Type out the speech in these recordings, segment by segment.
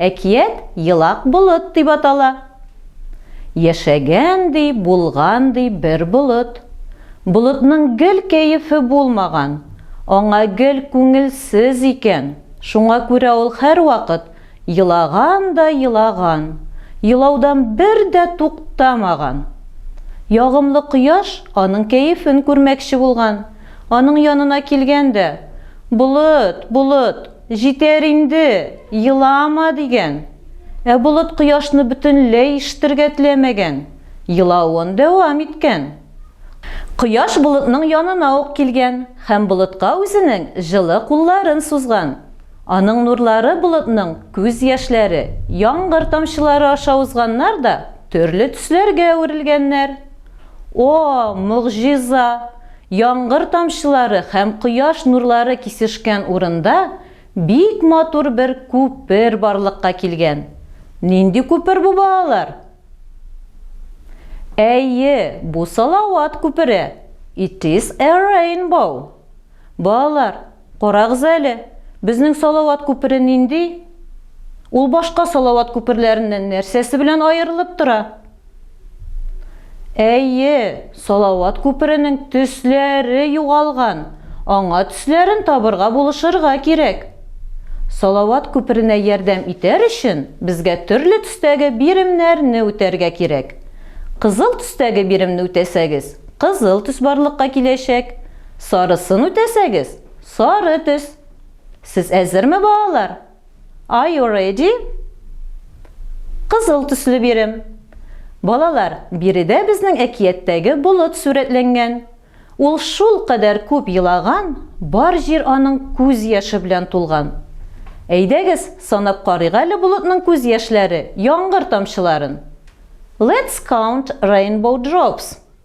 Әкият Елак болыт дип атала. Яшәгән, ди, булган, ди, бер болыт. Болытның гел кәефе булмаган, аңа гел күңелсез икән, шуңа күрә ул һәрвакыт елаган да елаган, елаудан бер дә туктамаган. Ягымлы кояш аның кәефен күрмәкче булган, аның янына килгән дә, Болыт, болыт! Җитәр инде, елама, дигән. Ә болыт кояшны бөтенләй ишетергә теләмәгән, елавын дәвам иткән. Кояш болытның янына ук килгән һәм болытка үзенең җылы кулларын сузган. Аның нурлары болытның күз яшьләре, яңгыр тамчылары аша узганнар да төрле төсләргә әверелгәннәр. О, могҗиза! Яңгыр тамчылары һәм кояш нурлары кисешкән урында бик матур бер күпер барлыкка килгән. Нинди күпер бу, балалар? Әйе, бу Салават күпере. It is a rainbow. Балалар, Карагыз әле, безнең Салават күпере нинди? Ул башка Салават күперләреннән нәрсәсе белән аерылып тора? Әйе, Салават күперенең төсләре югалган, аңа төсләрен табырга булышырга кирәк. Салават күперенә ярдәм итәр өчен безгә төрле төстәге биремнәрне үтәргә кирәк. Кызыл төстәге биремне үтәсәгез, кызыл төс барлыкка киләчәк, Сарысын үтәсәгез, сары төс. Сез әзерме, балалар? Are you ready? Кызыл төсле бирем. Балалар, биредә безнең әкияттәге болыт сурәтләнгән. Ул шул кадәр күп елаган, бар җир аның күз яше белән тулган. Әйдәгез, санап карыйк әле болытның күз яшьләре, яңгыр тамчыларын. Let's count rainbow drops.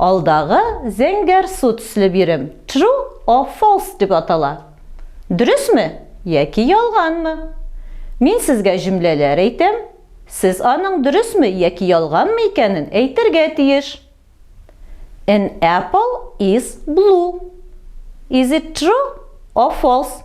Алдагы зәңгәр су төсле бирем true or false дип атала. Дөресме яки ялганмы? Мин сезгә җөмләләр әйтәм, сез аның дөресме яки ялганмы икәнен әйтергә тиеш. An apple is blue. Is it true or false?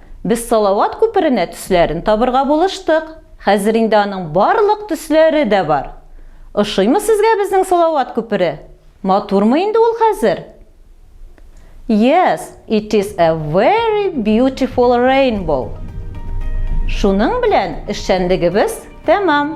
Без Салават күперенә төсләрен табырга булыштык. Хәзер инде аның барлык төсләре дә бар. Ошыймы сезгә безнең Салават күпере? Матурмы инде ул хәзер? Yes, it is a very beautiful rainbow. Шуның белән эшчәнлегебез тәмам.